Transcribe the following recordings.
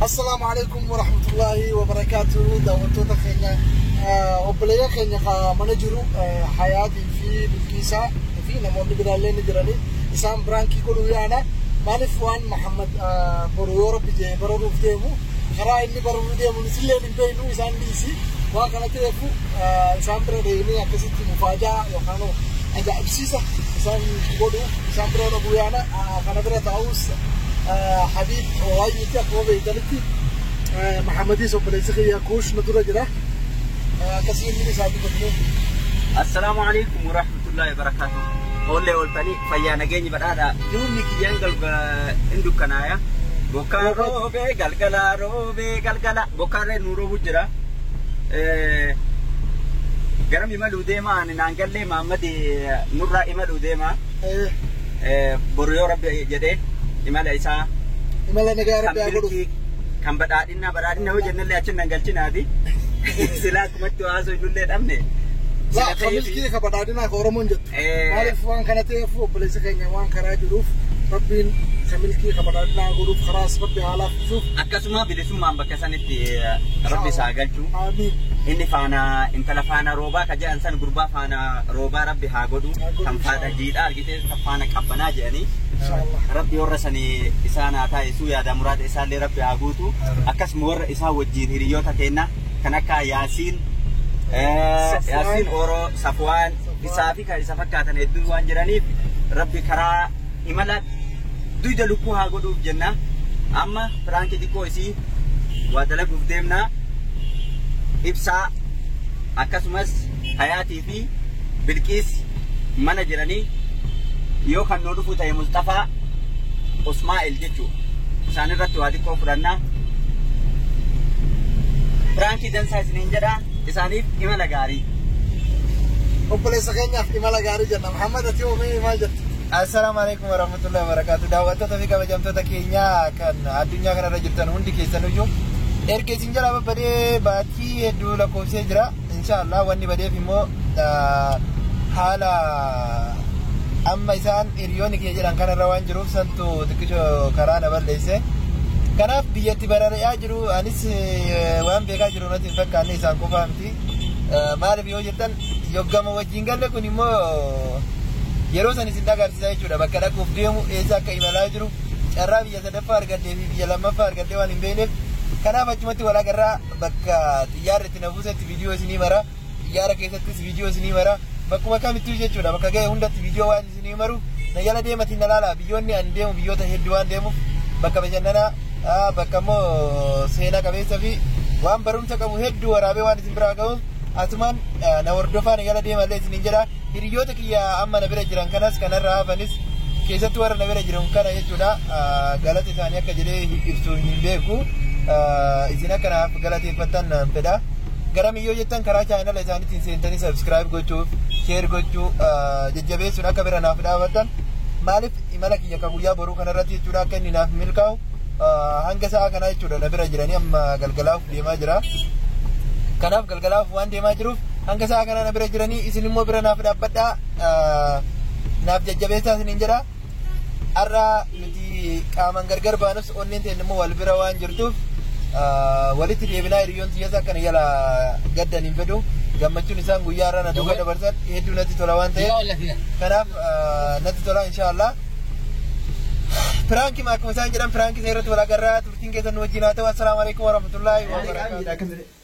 Assalaamu alaikum wa rahmatullahi wa barakaatuhu daawwattoota keenya obboleeyyan keenya ka mana jiru hayaatii fi bilkiisaa fi namoonni biraallee ni jirani isaan biraankii godhuu yaana maaliif waan Muhammad boru yoo rabbi jee bararuuf deemu karaa inni bararuu deemuun isillee ni beeknu isaan dhiisi waan kana ta'eef isaan bira deemee akkasitti mufaajaa yookaan ajaa'ibsiisa isaan godhu isaan bira ola guyyaana kana bira taa'us habiib waayyiitti akkuma beektanitti mahamadis obboleessi kiyya kuush nu dura jira akkasii inni isaa dubbatu Assalaamu alaikum wa rahmatullahi wa barakatuh. Oollee ooltanii fayyaa nageenyi badhaadhaa. Duumni kiyyaan galgala hin dukkanaaya. Bokkaan roobee galgalaa roobee. Roobee galgala bokkaarree nuu roobuu jira. Garam imaluu deema ani naan gallee Maammadi nurraa imaluu deema. Boru yoo rabbi jedhee imala isaa Imala nagaa kan rabbi haa godhu. milkii kan badhaadhinaa badhaadhina yoo jennellee achi nan galchinaati. Silaa akkumatti haasoo innullee dhabne. Laa, Sila ta'eefi- kamilkii ka badhaadhinaa ka Oromoon jettu. Maaliif waan kana ta'eef obboleessa keenya waan karaa jiruuf rabbiin isa milkii kabadannaa godhuuf karaa sabbi haalaa fisuuf. Akkasuma bilisummaan bakka sanitti rabbi isaa galchu. Inni faana intala faana roobaa ka jedhan san gurbaa faana roobaa rabbi haa godhu kan faadha jiidhaa argitee kan faana qabbanaa jedhanii. Rabbi warra sani isaan haa taa'isuu yaada muraada isaallee rabbi haa guutu. Akkasuma warra isaa wajjin hiriyoota keenya kan akka Yaasiin Yaasiin Oro Safwaan isaa fi kan isa fakkaatan hedduun waan jiraniif rabbi karaa imala duyda lukkuu haa godhuuf jenna amma piraankii xiqqoo isii waa dalaguuf deemna ibsaa akkasumas hayaatii fi bilqiis mana jiranii yoo kan nuu dhufuu ta'e musxafaa usmaa'el jechuu isaan irratti waa xiqqoo fudhanna piraankii dansaa isiniin jedha isaaniif imala gaarii. Obboleessa keenyaaf imala gaarii jenna. Muhammad ati hoo mee maal jetta? Assalaamu alaikum warahmatullahi wabarakatuh. Daawwattoota fi kabajamtoota keenyaa kan addunyaa kanarra jirtan hundi keessanuyyuu erga isin jalaa babbadee baatii hedduu lakkoofsee jira. Inshaallah wanni badeef immoo ah, haala amma isaan hiriyoonni kiyya jedhan kanarra waan jiruuf santu xiqqisho karaa na balleesse. Kanaaf biyyatti barari'aa jiru anis eh, waan beekaa jiru. Namatti hin fakkaanne isaan qofaa miti. Maaliif yoo jettan yoggama wajjin galle kun immoo yeroo san isin agarsiisa jechuudha. Bakka dhaquuf deemu eessa akka imalaa jiru carraa biyya sadaffaa argadhee fi biyya lammaffaa argadhee waan hin beekneef kanaaf achumatti wal agarraa bakka xiyyaarri itti na buusetti viidiyoo isinii mara. Xiyyaara keessattis viidiyoo isinii mara. Bakkuma kamittuu jechuudha bakka ga'e hundatti viidiyoo waan isinii maru na jala deematiin na laala. Biyyoonni ani deemu biyyoota hedduu waan deemuuf bakka bashannanaa ah, bakka immoo seenaa qabeessa fi waan barumsa qabu hedduu waraabee waan isin biraa ga'uuf asumaan ah, na hordofaa na jala deemallee isiniin jedha. Hiriyyoota kiyya amma na bira jiran kanas kanarra hafanis keessatti warra na bira jiran kana jechuudha galata isaanii akka jedhee ibsu hin beeku isin akka naaf galateeffattan naan fedha. Garam yoo jettan karaa chaayinala isaaniitiin seentanii sabskiraayib gochuu sheer gochuu jajjabeessuun akka bira naaf dhaabattan maaliif imala kiyya akka guyyaa boruu kanarratti jechuudha akka inni naaf milkaa'u hanga sa'a kanaa jechuudha na bira jiranii amma galgalaaf deemaa jira. Kanaaf galgalaaf waan deemaa jiruuf hanga sa'a kanaa na bira jiranii isin immoo bira naaf dhaabbadhaa naaf jajjabeessaa isiniin jedha har'a nuti qaamaan gargar baanus onneen ta'e immoo wal bira waan jirtuuf walitti deebinaa hiriyoon siyyasa akkana jala gaddan hin fedhu gammachuun isaan guyyaa irraa na duuba dabarsan hedduu natti tola waan ta'eef kanaaf natti tola inshaallah. Piraanki akkuma isaan jedhan piraanki isa irratti wal agarraa turtiin keessan nu wajjin haa ta'u assalaamu alaikum warahmatullaahi wabarakatuh.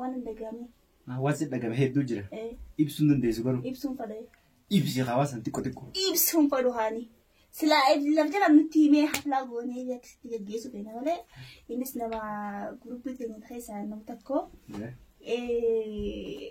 Waan hin dhaga'amne. Waan si dhagame hedduu jira. Eh, Ibsuun dandeessu garuu. Ibsuun fadhee. Ibsi hawaasan xiqqo xiqqo. Ibsuun fadhu haani. Silaa laf jala nutti himee haflaa goonee akkasitti gaggeessu keenya malee innis nama guruppii keenya keessaa nama tokko. Eh,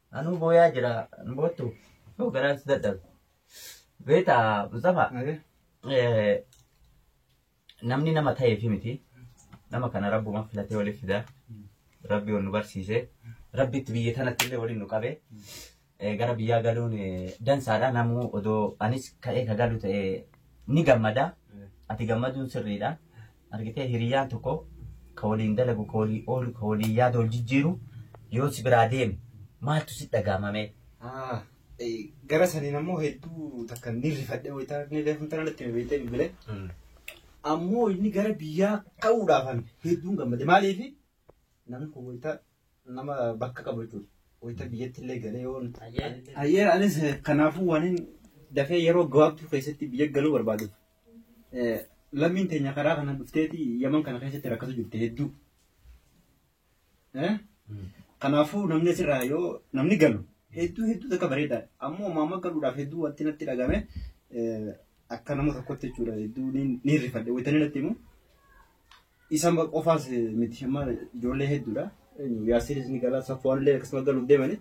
Anuu booyaa jira hin boottu yoo garaan si dadhabe. Beeta Mustafa eh, namni nama ta'eefi miti nama kana rabbuma filatee waliif fida rabbi ol nu barsiise rabbitti biyya tanatti illee waliin nu qabe Eh, gara biyyaa galuun eh, dansaadha namuu odoo anis ka'ee ka galu ta'e ni gammada ati gammaduun sirriidha Argitee hiriyaan tokko ka waliin dalagu, ka walii oolu, ka waliin yaada wal jijjiiru yoo si biraa deeme maaltu sitti dhagahama mee? Gara saniin ammoo hedduu takka ni rifadhe wayita inni reefu intala natti hime beektee bilbilee. Ammoo inni gara biyyaa ka'uudhaaf hedduun gammade. Maaliif namni kun wayita nama bakka qabu jechuudha. Wayita biyyatti illee galee yoo Ayyee anis eh, kanaafuu waan hin dafee yeroo gabaabtuu keessatti biyya galuu barbaaduuf eh, lammiin teenya karaa kana dhufteeti yaman kana keessatti rakkatu jirte hedduu. Eh? Kanaafuu namni asirraa yoo namni galu hedduu hedduu takka bareedaadha. Ammoo maama galuudhaaf hedduu wanti natti dhagame eh, akka nama tokkotti jechuudha hedduu ni ni rifadhe wayita inni natti himu Isaan qofaas miti amma ijoollee hedduudha. Yaasiris ni gala safuwaan illee akkasuma galuuf deemani.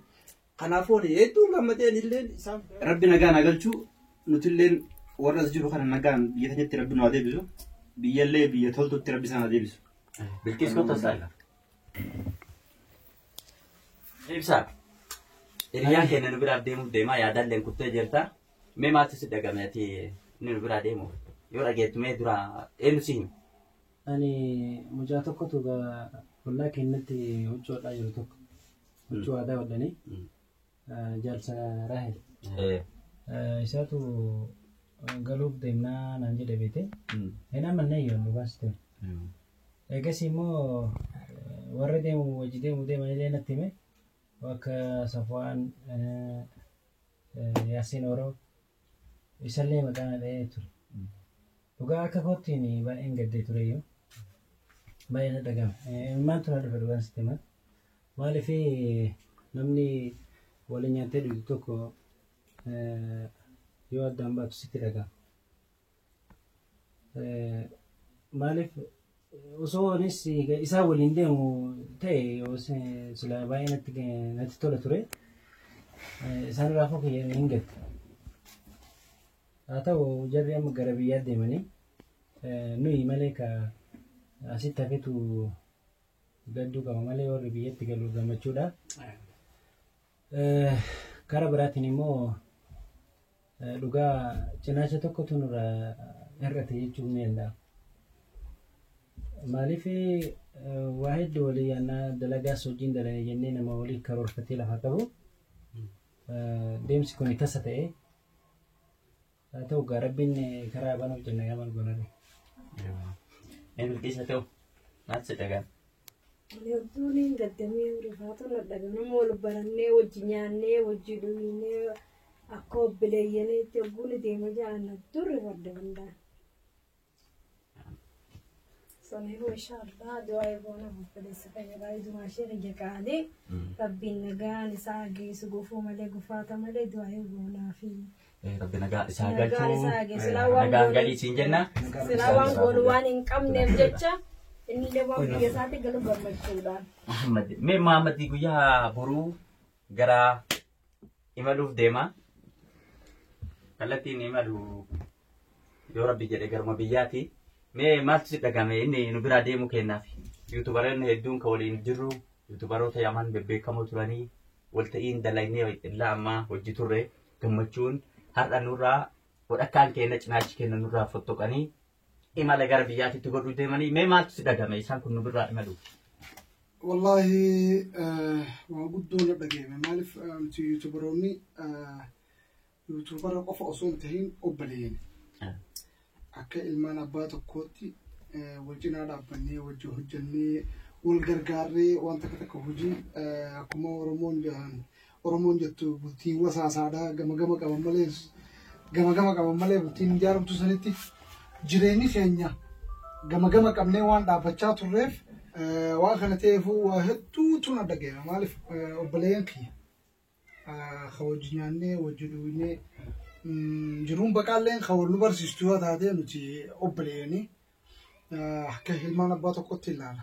Kanaafuu ani hedduun gammadeen illee isaan. Rabbi nagaan haa galchu nuti illee warra as jiru kana nagaan biyya keenyatti rabbi nu haa deebisu. Biyya illee biyya toltutti rabbi isaan haa deebisu. Bilqiis kottu as arga. Ibsaa. Hiriyyaan keenya nu biraaf deemuuf deemaa yaadalleen kuttee jirta. Mee maaltu si dhagame ati inni nu biraa deemu yoo dhageettu mee dura eenyu si hime? Ani mucaa tokkotu ollaa keenyatti huccuu hodhaa jiru tokko. Huccuu aadaa hodhanii jaalsa Raahel. Isaatu galuuf deemnaa naan jedhe beete. Inni amma inni ayyoon nu baasite. Eegas immoo warra deemu wajji deemu deeman illee natti hime. Akka Safwaan Yaasiin Oro isallee maqaa na dha'ee ture. Dhugaa akka koottiin baay'een gaddee tureyyuu baay'ee na dhaga'ame. Maaltu na dhufe dhugaan sitti himaa? Maaliif namni waliin nyaattee dhugdu tokko yoo addaan baatu sitti dhaga'ama. Maaliif osoo anis isaa waliin deemu ta'e yoo sila baay'ee natti natti tola ture. Isaan raafuu kiyya hin gatte. Haa ta'u jarri amma gara biyyaa deemanii nuyi malee ka asitti hafetu gadduu qaba malee warri biyyatti galu gammachuudha. Karaa biraatiin immoo dhugaa cinaacha tokkotu nurra hir'ate jechuun ni danda'ama. Maaliif waa hedduu walii yaannaa dalagaas hojiin dalane jennee nama walii karoorfatee lafa qabu deemsi kun tasa ta'e Haa ta'u gaa rabbiin karaa banuuf jenna gaa maal goona ree. Mee bilqiis haa ta'u maal si dhagaan. Loltuun hin gaddamee rifaatu na dhagana mool barannee wajji nyaannee wajji dhugnee akka obbileeyyaneetti ogguun deema ja'an durri farda hundaa. Samiin mashaa Allah du'aa eegoon obboleessa fayyadaa ijumaa ishee biyya qaalee rabbiin nagaan isaa geessu gufuu malee gufaata malee du'aa eegoonaa fi Rabbi nagaa isaa Nagaan galchuu. isaa haa geessu. Silaa waan Nagaan goone- galii siin jenna. silaa waan goonu waan hin qabneef jecha inni illee waan biyya isaatti galu gammachuudhaan. Muhammad. Mee Muhammad guyyaa boruu gara imaluuf deema. Kallattiin imalu yoo rabbi jedhe garuma biyyaati. Mee maaltu si dhagame inni nu biraa deemuu kennaaf. Yuutubareen hedduun kan waliin jirru yuutubaroota yaman bebbeekamoo turanii walta'iin dalagnee illaa ammaa hojii turre gammachuun har'a nurraa walakkaan keenya cinaachi keenya nurraa fottoqanii imala gara biyyaatitti godhuu deemanii mee maaltu si dhagame isaan kun nu birraa imaluuf. Wallaahi eh, waan guddoo na dhagahame maaliif eh, nuti yuutubaroonni eh, yuutubara qofa osoo hin tahin obboleeyyan akka ilmaan abbaa tokkootti eh, wal cinaa dhaabbannee wajjin hojjannee wal gargaarree waan takka takka hojii eh, akkuma oromoon jedhan Oromoon jettu bultiin wasaasaadha. Gama gama qaban malee gama gama qaban malee bultiin hin jaaramtu sanitti jireenyi keenya gama gama qabnee waan dhaabbachaa turreef waan kana ta'eefuu waa hedduutu na dhaga'e. Maaliif obboleeyyan kiyya kan wajji nyaannee wajji dhugnee jiruun baqaalleen kan wal nu barsiistu yoo taate nuti obboleeyyanii akka ilmaan abbaa tokkotti ilaala.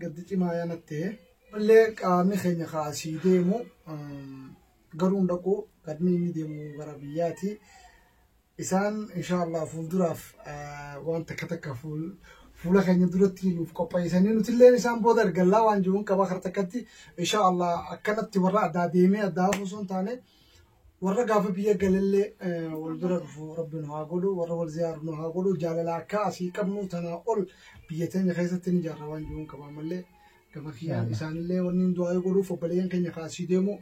Gaddi cimaa yaa nattee. Mallee qaamni keenya kaa asii deemu garuu hin dhaqu gadni inni deemu gara biyyaati. Isaan insha Allah fuulduraaf waan takka takka fuula keenya duratti nuuf qopheessanii nuti illee isaan booda argallaa waan jiruun qaba kar takkatti insha Allah akkanatti warra addaa deemee addaa osoo hin taane Warra gaafa biyya galallee wal bira dhufu rabbi nu haa godhu warra wal ziyaaru nu haa godhu jaalala akka asii qabnu tanaa ol biyya teenya keessatti ni jaarra waan jiruun qabaa malee gama kiyyaan isaanillee wanni hin du'aa godhuuf obboleeyyan keenya ka asii deemu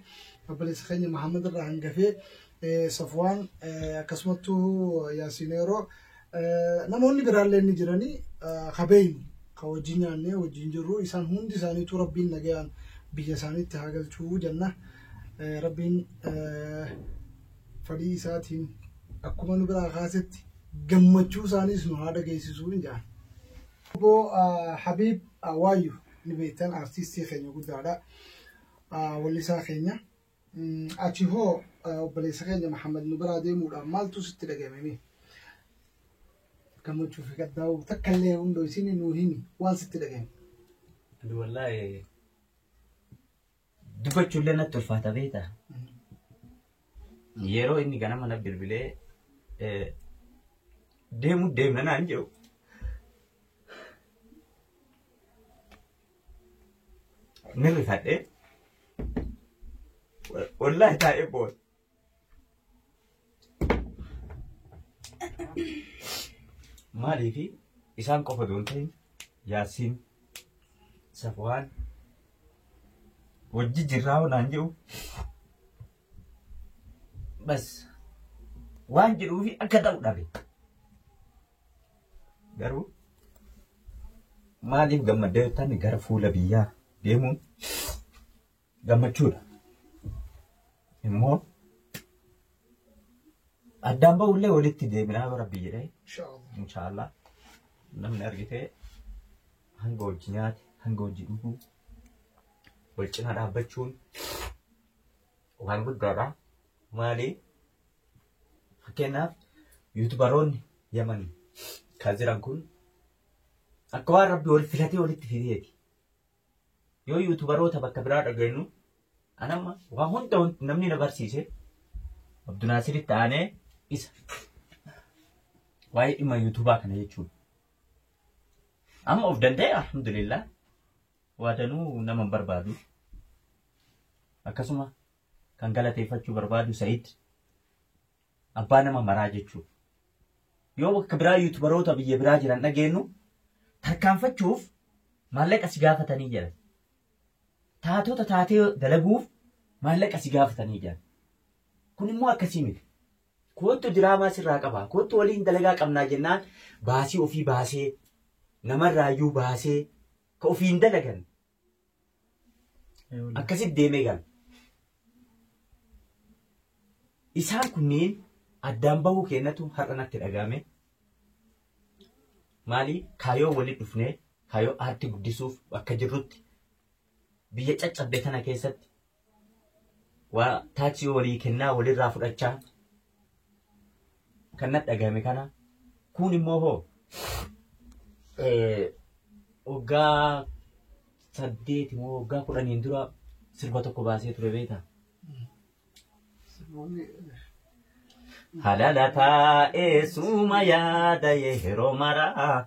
obboleessa keenya Mahammad irraa hangafee Safwaan akkasumattuu Yaasiin Eeroo Namoonni biraallee inni jiranii ka beeynu ka wajjin nyaannee wajjin jirru isaan hundi isaaniitu rabbiin nagayaan biyya isaaniitti haa galchuu jenna. Rabbiin fadhii isaatiin akkuma nu biraa kaasetti gammachuu isaaniis nu haa dhageessisuu hin jedhan. Obbo Habiib Waayyu ni beektan artistii keenya guddaadha. Wallisaa keenya. Ati hoo obboleessa keenya Muhammad nu biraa deemuudhaan maaltu sitti dhaga'ame mee? Gammachuu fi gaddaa takka illee hundoo isin nuu himi waan sitti dhaga'ame. Ani wallaahi dubbachuullee natti ulfaata beekta. Yeroo inni ganama na bilbilee eh, deemuu deemna naan jedhu. Ni rifadhe. Wallaahi taa'ee booda. Maaliifi isaan qofa doon ta'in yaasiin safwaan wajji jirraa naan jedhu bas waan jedhuufi akka ta'u dhabe. Garuu maaliif gammadda yoo ta'an gara fuula biyyaa deemuun gammachuudha. Immoo addaan ba'ullee walitti deebinaa yoo rabbi jedhee Inshallah. inshaallah namni argitee hanga hojii nyaate hanga hojii dhuguu wal cina dhaabbachuun waan guddaadha. Maali Fakkeenyaaf yuutubaroonni Yaman kan jiran kun akka waan rabbi wal filatee walitti fideeti. Yoo yuutubaroota bakka biraa dhageenyu anamma waan hunda wanti namni na barsiise Abdunaasiritti aanee isa waa'ee dhimma yuutubaa kana jechuudha. Amma of danda'e alhamdulillah waadanuu nama hin barbaadu. Akkasuma kan galateeffachuu barbaadu Sayid abbaa nama maraa jechuudha. Yoo bakka biraa yuutubaroota biyya biraa jiran dhageenyu tarkaanfachuuf maallaqa si gaafatanii jedhan. Taatota taatee dalaguuf maallaqa si gaafatanii jedhan. Kun immoo akkasii miti. Koottu diraamaa sirraa qaba. Koottu waliin dalagaa qabnaa jennaan baasii ofii baasee namarraayyuu baasee ka ofiin dalagan Akkasitti deemee gala. Isaan kunniin addaan bahuu keenyatu har'a natti dhaga'ame. Maali kaayoo walitti dhufnee kaayoo aartii guddisuuf bakka jirrutti biyya caccabde tana keessatti waa taachii walii kennaa walirraa fudhachaa kan natti dhagahame kana kuun immoo hoo waggaa saddeeti moo waggaa kudhaniin dura sirba tokko baasee ture beektaa? Halala taa'ee suuma yaada yeroo maraa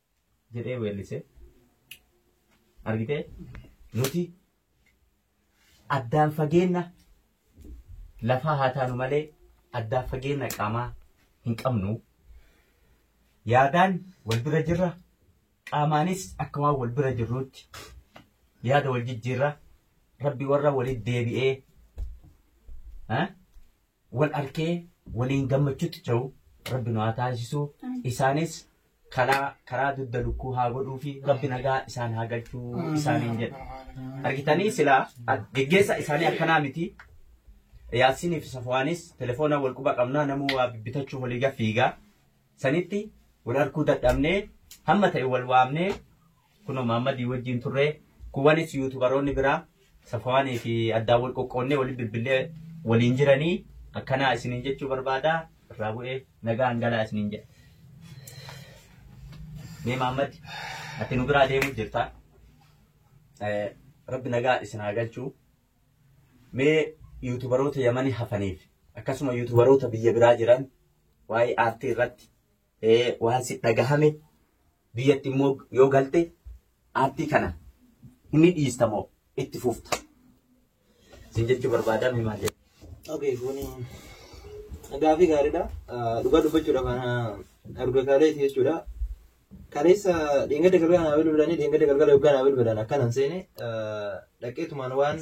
jedhee weellise. Argitee? Nuti addaan fageenna lafaa haa taanu malee addaan fageenna qaamaa hin qabnu. Yaadaan wal bira jirra. Qaamaanis akka waan wal bira jirruutti yaada wal jijjiirra. Rabbi warra walitti deebi'ee ha? wal arkee waliin gammachutti ce'u rabbi nu haa taasisu isaanis kalaa karaa dudda lukkuu haa godhuu fi rabbi nagaa isaan haa galchuu isaaniin jedha argitanii silaa ak- geggeessaa isaanii akkanaa miti yaasiinii fi safuwaanis telefoona wal quba qabnaa namuu waa bibbitachuuf walii gaffiigaa sanitti wal arkuu dadhabnee hamma ta'e wal waamnee Kunoo Maammadii wajjin turre. Kuwwanis yuutubaroonni biraa Safawaanii fi addaan wal qoqqoodnee waliin bilbillee waliin jiranii akkanaa isiniin jechuu barbaada. Irraa bu'ee nagaan galaa isiniin jedha. Mee Maammad ati nu biraa deemuuf jirta. Eh, Rabbi nagaa isin haa galchuu. Mee yuutubaroota Yamanii hafaniif akkasuma yuutubaroota biyya biraa jiran waa'ee aartii irratti waan si dhagahame biyyatti immoo yoo galte aartii kana inni dhiista moo itti fufta sin jechuu barbaadaa mee maal jedhu. Okay, kuni gaafii gaariidha. Dhugaa dubbachuudhaaf ana arga kaaleeti jechuudha. Kaleessa dheengadda galgala naa bilbilanii dheengadda galgala yoggaa naa bilbilan akkanan seene dhaqeetumaan waan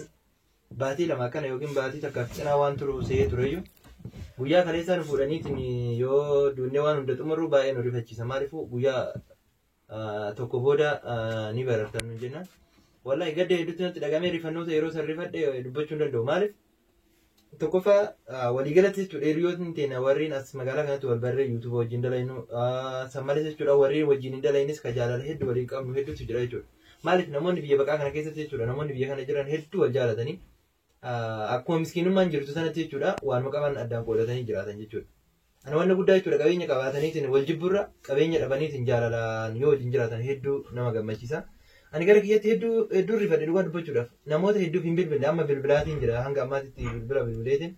baatii lama akkana yookiin baatii takkaaf cinaa waan turu se'ee tureyyuu guyyaa kaleessaa nu fuudhaniitiin yoo duunnee waan hunda xumurru baay'ee nu rifachiisa maaliifuu guyyaa ah, tokko booda ah, ni barartan nu jennaan wallahi gadda hedduutti natti dhagamee rifannoota yeroo san rifadhe dubbachuu hin danda'u maaliif tokkoffaa ah, waliigalatti jechuudha hiriyootni teenya warreen as magaalaa kanatti wal barree yuutuuba wajjin dalaynu ah, san malees jechuudha warreen wajjin hin dalaynis ka jaalala hedduu waliin qabnu hedduutu jira jechuudha. Maaliif namoonni biyya baqaa kana keessatti jechuudha namoonni biyya kana jiran hedduu wal jaalatanii akkuma miskiinummaan jirtu sanatti jechuudha waanuma qaban addaan qoodatanii jiraatan jechuudha. Ana wanna guddaa jechuudha qabeenya qabaataniitiin wal jibburra qabeenya dhabaniitiin jaalalaan yoo wajjin jiraatan hedduu nama gammachiisa. Ani gara kiyyatti hedduu hedduu rifadhe dhugaa dubbachuudhaaf namoota hedduuf hin bilbille amma bilbilaatiin jira hanga ammaatitti bilbila bilbileetiin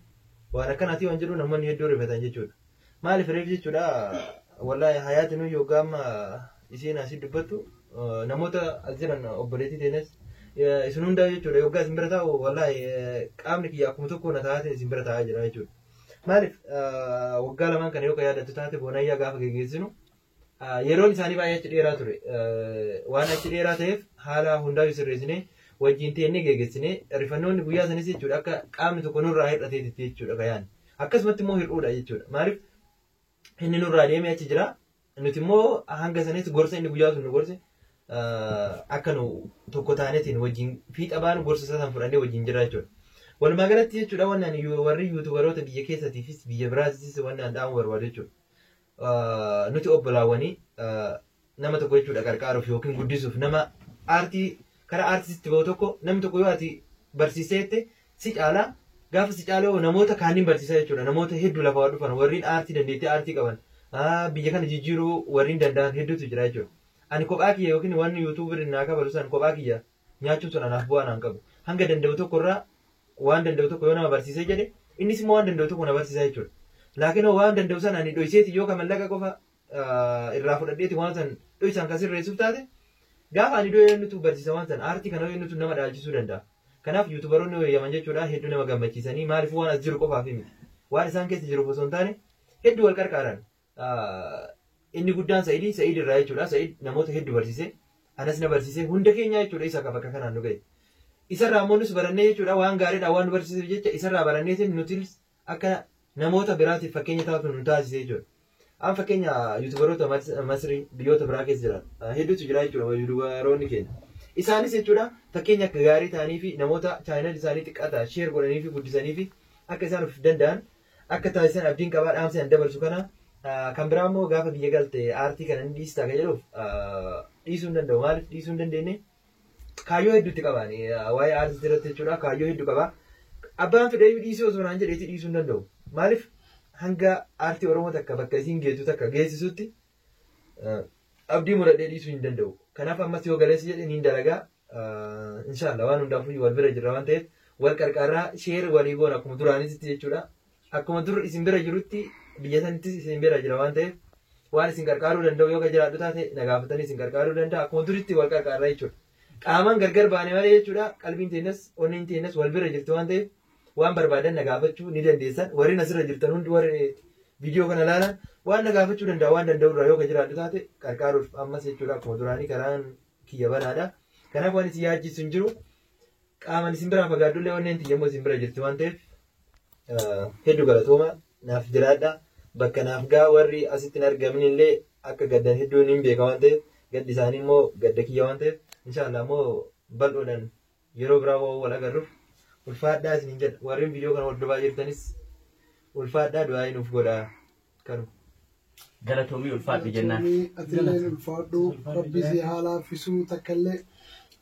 waan akkanaatii waan jedhu namoonni hedduu rifatan jechuudha. Maaliif reef jechuudha wallahi hayaati nuyi yoggaa amma isiin asii dubbattu namoota as jiran obboleettii teenyas isin hundaa jechuudha yoggaa isin bira taa'u wallahi qaamni kiyya akkuma tokko na taa'atiin isin bira taa'aa jira jechuudha. Maaliif waggaa lamaan kana yoo ka yaadattu taate boonayyaa gaafa geggeessinu Yeroon isaanii baay'ee achi dheeraa ture. Waan achi dheeraa ta'eef haala hundaa'u sirreessinee wajjin teennee geggeessinee rifannoonni guyyaa sanis jechuudha akka qaamni tokko nurraa hir'ateetti jechuudha gayaan. Akkasumatti immoo hir'uudha jechuudha. Maaliif inni nurraa deemee achi jira. Nuti immoo hanga sanis gorsa inni guyyaa sun nu gorse akka nu tokko taanetiin wajjin fiixa baanu gorsa isaa san fudhannee wajjin jirra jechuudha. Walumaa galatti jechuudha wannaan warri yuutubaroota biyya keessatiifis biyya biraatiifis wannaan dhaamuu barbaadu jechuudha. nuti obbolaawwanii nama tokko jechuudha qarqaaruuf yookiin guddisuuf nama aartii karaa aartiitti bahu tokko namni tokko yoo ati barsiisee jette si caala gaafa si caala yoo namoota kaaniin barsiisaa jechuudha namoota hedduu lafa waa dhufan warreen aartii dandeettii aartii qaban biyya kana jijjiiruu warreen danda'an hedduutu jira jechuudha. Ani kophaa kiyya yookiin waan yuutuubiin naa kabalu san kophaa kiyya nyaachuun sun anaaf bu'aa naan qabu. Hanga danda'u tokko irraa waan danda'u tokko yoo nama barsiisee jedhe innis immoo waan danda'u tokko na barsiisaa jechuudha. Laakiin hoo waan danda'u sana ani dhoyseeti yoo ka mallaqa qofa irraa fudhadheeti waan san dhoysaan kan sirreessuuf taate gaafa ani du'e eenyutu barsiisa waan san aartii kana eenyutu nama dhaalchisuu danda'a. Kanaaf yuutubaroonni wayyaman jechuudha hedduu nama gammachiisanii maaliif waan as jiru qofaaf miti. Waan isaan keessa jiruuf osoo hin taane hedduu wal qarqaaran. inni guddaan Sa'idii Sa'id irraa jechuudha. Sa'id namoota hedduu barsiise. Anas na barsiise. Hunda keenya jechuudha isa bakka kanaan nu ga'e. Isarraa ammoo nus barannee jechuudha waan gaariidha waan nu barsiiseef jecha isarraa baranneetiin nutis akka namoota biraatiif fakkeenya taatu nu taasise jechuudha. An fakkeenya yuutubaroota Masrii biyyoota biraa keessa jiran hedduutu jira jechuudha yuutubaroonni keenya. Isaanis jechuudha fakkeenya akka gaarii ta'anii fi namoota chaayinal isaanii xiqqaa ta'an sheer godhanii fi guddisanii fi akka isaan of danda'an akka taasisan abdiin qabaa dhaamsi an dabarsu kana kan biraa immoo gaafa biyya galte aartii kana ni dhiistaa kan jedhuuf dhiisuu hin danda'u maaliif dhiisuu hin dandeenye kaayyoo hedduutti qabaan waa'ee aartii irratti jechuudha kaayyoo hedduu qaba abbaan fedheeyyuu dhiisuu osoo naan jedheetii dhiisuu hin danda'u maaliif hanga aartii oromoo takka bakka isiin geetu takka geessisutti abdii muradhee dhiisuu hin danda'u kanaaf ammas yoo galeessa jedhe niin dalagaa Inshallah waan hundaafuu wal bira jirra waan ta'eef wal qarqaarraa sheer walii goona akkuma duraanitti jechuudha. Akkuma dur isin bira jirutti biyya sanittis isin bira jira waan ta'eef waan isin qarqaaruu danda'u yoo jiraadhu taate na gaafatanii isin qarqaaruu danda'a akkuma duritti wal qarqaarra jechuudha. Qaamaan gargar baane malee jechuudha qalbiin teenyas onneen teenyas wal bira jirti waan ta'eef waan barbaadan na gaafachuu ni dandeessan warri asirra jirtan hundi warri viidiyoo kana ilaalan waan na gaafachuu danda'a waan danda'u irraa yoo jiraadhu taate qarqaaruuf ammas jechuudha akkuma duraanii karaan kiyya banaadha. Kanaaf waan isin yaachisu hin jiru. Qaamaan isin biraa fagaadhullee onneen tiyya immoo isin bira jirti waan ta'eef ah, hedduu galatooma naaf jiraadha. Bakka naaf gaa warri asitti hin argamin illee akka gaddan hedduun hin beeka waan ta'eef gaddi isaanii immoo gadda kiyya waan ta'eef inshaallah immoo bal'oodhaan Yeroo biraa wa'oo wal agarru. Ulfaadhaa isiniin jedha. Warreen viidiyoo kana hordofaa jirtanis ulfaadhaa du'aa'ii nuuf godhaa. Kanu. Galatoomii ulfaadhu jennaan. Galatoomii atilleen ulfaadhu rabbi si haa laaffisuu takkallee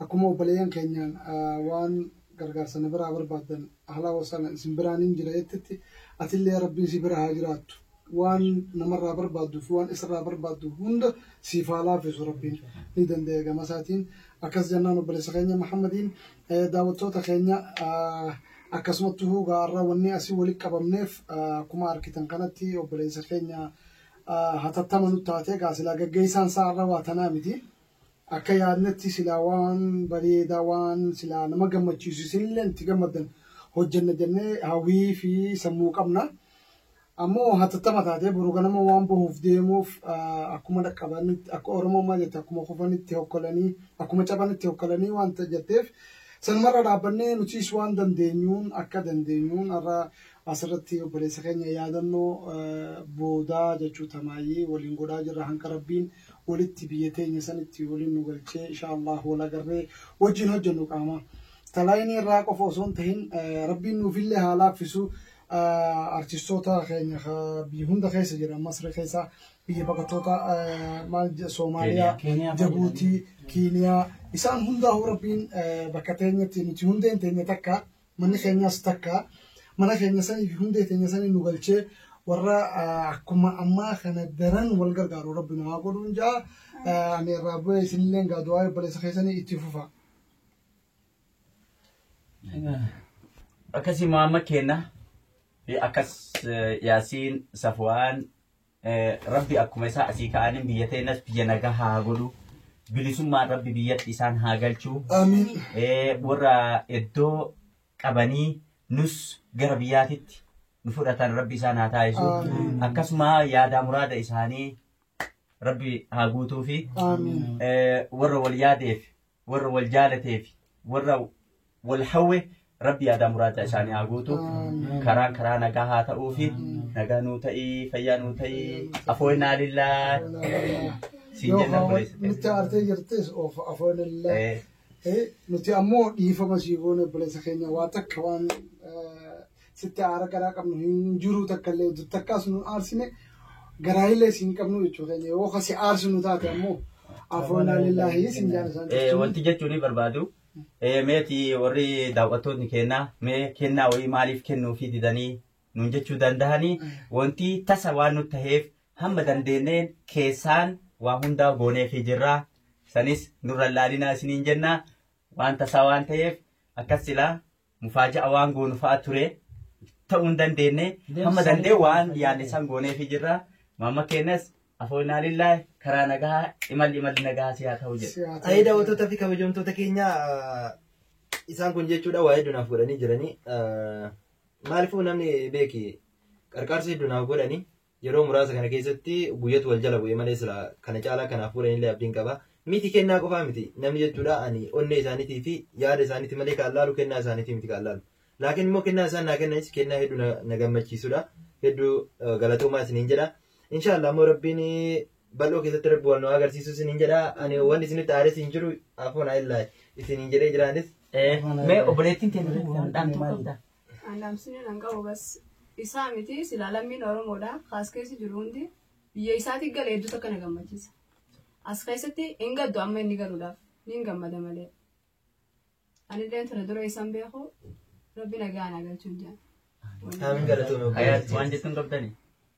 akkuma obboleeyyan keenyaan ah, waan gargaarsa na biraa barbaaddan haala wasaala isin biraan hin jira jettetti atillee rabbiin si bira haa jiraattu Waan namarraa barbaadduu fi waan isarraa barbaaddu hunda siif haa laaffisu Rabbiin. Ni dandaya gama isaatiin. Akkas jennaan obboleessa keenya Muhammadiin daawwattoota keenya akkasumatti huu gaa har'a wanni asii walitti qabamneef akkuma argitan kanatti obboleessa keenya hatattama nu taatee gaa silaa gaggeessaan isaa har'a waa tanaa miti. Akka yaadnetti silaa waan bareedaa waan silaa nama gammachiisu isinillee itti gammaddan hojjenna jennee hawwii fi sammuu qabna. Ammoo hatattama taatee boru ganama waan bahuuf deemuuf akkuma dhaqqabanitti akka Oromoon maal jette akkuma kufanitti hokkolanii akkuma cabanitti hokkolanii waan jetteef sanumarra dhaabbannee nutis waan dandeenyuun akka dandeenyuun har'a asirratti obboleessa keenya yaadannoo boodaa jechuu tamaayyii waliin godhaa jirra hanga rabbiin walitti biyya teenya sanitti waliin nu galchee insha Allah wal agarree wajjin hojjennu qaama. Talaayinii irraa qofa osoo hin tahin rabbiin nuufillee haa laaffisu. artistoota keenya ka biyya hunda keessa jiran Masri keessa biyya baqattoota eh, maal je- Soomaaliyaa, Keeniyaa, Keeniyaa Jabuutii, Kiiniyaa isaan hundaa rabbiin eh, bakka teenyatti nuti hundeen teenya takka manni keenyas takka mana keenya sanii fi hundee teenya sanii nu galchee warra eh, akkuma ammaa kana daran wal gargaaru rabbi nu haa godhuun ja'a Eh, ani irraa bu'ee isinillee gaa du'aa obboleessa keessanii itti fufa. Akkasii Muhammad keenna fi akkas Yaasiin Safwaan Rabbi akkuma isaa asii ka'aniin biyya teennas biyya nagaa haa godhu. Bilisummaan Rabbi biyyatti isaan haa galchu. Warra iddoo qabanii nus gara biyyaatitti nu fudhatan Rabbi isaan haa taasisu. Akkasuma yaadaa muraada isaanii Rabbi haa guutuufi. Warra wal yaadeef warra wal jaalatee fi warra wal hawwe rabbi yaadaa muraada isaanii haa guutu karaan karaa nagaa haa ta'uu fi nagaa nuu ta'ii fayyaa nuu ta'ii afooyinaa lillaa siin Yoo jenna hawa- nutti buleessa aartee jirtes of afoon illee ta'e. Eh, nuti ammoo dhiifama sii goone obboleessa keenya waa takka waan eh, sitti aara garaa qabnu hin jiru takka illee dur takkaas nu aarsine garaa illee siin qabnu jechuu keenya yoo kasi aarsu nu taate ammoo afoonaa lillaahi siin jaala isaan Eh, jechuun wanti jechuun ni barbaadu. Eh, meeti warri daawwattoonni kennaa mee kennaa wayii maaliif kennuufii didanii nuun jechuu danda'anii wanti tasa waan nu taheef hamma dandeenyeen keessaan waa hundaa gooneefii jirra. Sanis nurra laalinaa isiniin jenna waan tasaa waan taheef akkas silaa mufaaja'a waan goonu fa'a ture ta'uu hin dandeenye hamma dandee waan yaadne san gooneefi jirra maamma keenyas afoolnaa lillaa karaa nagaa imalli imalli nagaa si haa ta'u jedha. Ayii daawwattoota fi kabajamtoota keenya isaan kun jechuudha waa hedduu naaf godhanii jiranii maaliifuu namni beeki qarqaarsa hedduu naaf godhanii Yeroo muraasa kana keessatti guyyatu wal jala bu'e malee silaa kana caalaa kanaaf godhanillee abdiin qaba. Miti kennaa qofaa miti namni jechuudha ani onnee isaaniitii fi yaada isaaniitii malee kan laalu kennaa isaaniitii miti kan laalu. Laakiin immoo kennaa isaan naa kennanis kennaa hedduu na, na gammachiisudha. Hedduu eh, galatoomaa isiniin jedha. Inshaallah immoo rabbiin bal'oo keessatti rabbi wal nu agarsiisu isiniin jedha. Ani wanni isinitti aares hin jiru afuun ayillaay isiniin jedhee jiraanis. Eh, Mee obboleettiin teenya tokko waan dhaamtuu qabda. An dhaamsini nan qabu bas isaa miti silaa lammiin Oromoodha kaas keessa jiru hundi biyya isaati gale hedduutu akka na gammachiisa. As keessatti hin gaddu amma inni galuudhaaf niin gammada malee. Anillee ture dura isaan beeku rabbi nagaa na galchuun jaan. Aamiin galatoomi. Hayaat waan jettuun qabdani.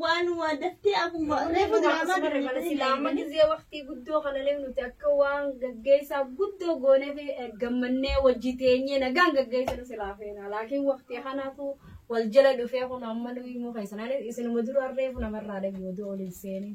waan waa daftee akkuma reefu diraamaa dabalatee sila amma gizee waqtii guddoo kana illee nuti akka waan gaggeessaa guddoo goonee fi gammannee wajji teenyee nagaan gaggeessinu silaa feena laakiin waqtii kanaatu wal jala dhufee kun amma nuyi immoo keessanaanis isinuma dura reefu namarraa dhabii oduu oliin seenee.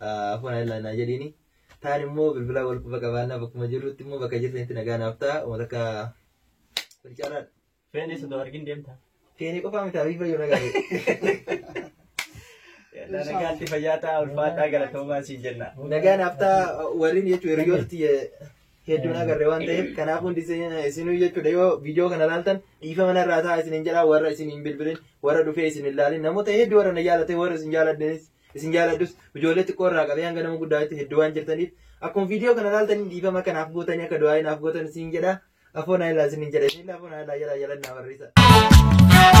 Afaan Ayilaa naa jedhiini. Taan immoo bilbilaa wal quba qabaannaa bakkuma jirrutti immoo bakka jirtanitti nagaa naaf ta'a. Uummata akka kun caalaadha. Feenee sodoo argin deemta. Feenee qofaa mitaa fi fayyoo nagaa Nagaatti fayyaa ta'a ulfaataa galatoomaa siin jenna. Nagaa naaf ta'a warreen jechuun hiriyooti hedduun agarre waan ta'eef kanaaf hundi isinuu jechuudha yoo viidiyoo kana ilaaltan dhiifama narraa ta'a isinin jedha warra isin hin bilbilin warra dhufee isin hin ilaalin namoota hedduu warra na jaalatan warra isin jaaladhanis Isin jaaladhus ijoollee xiqqoo irraa qabee hanga nama guddaatti hedduu waan jirtaniif akkuma viidiyoo kana ilaaltanii dhiifama akka naaf gootanii akka du'aa naaf gootan isin jedha. Afoo naa ilaa isin jedha. Isin afoo naa ilaa jala jala naa barreessa.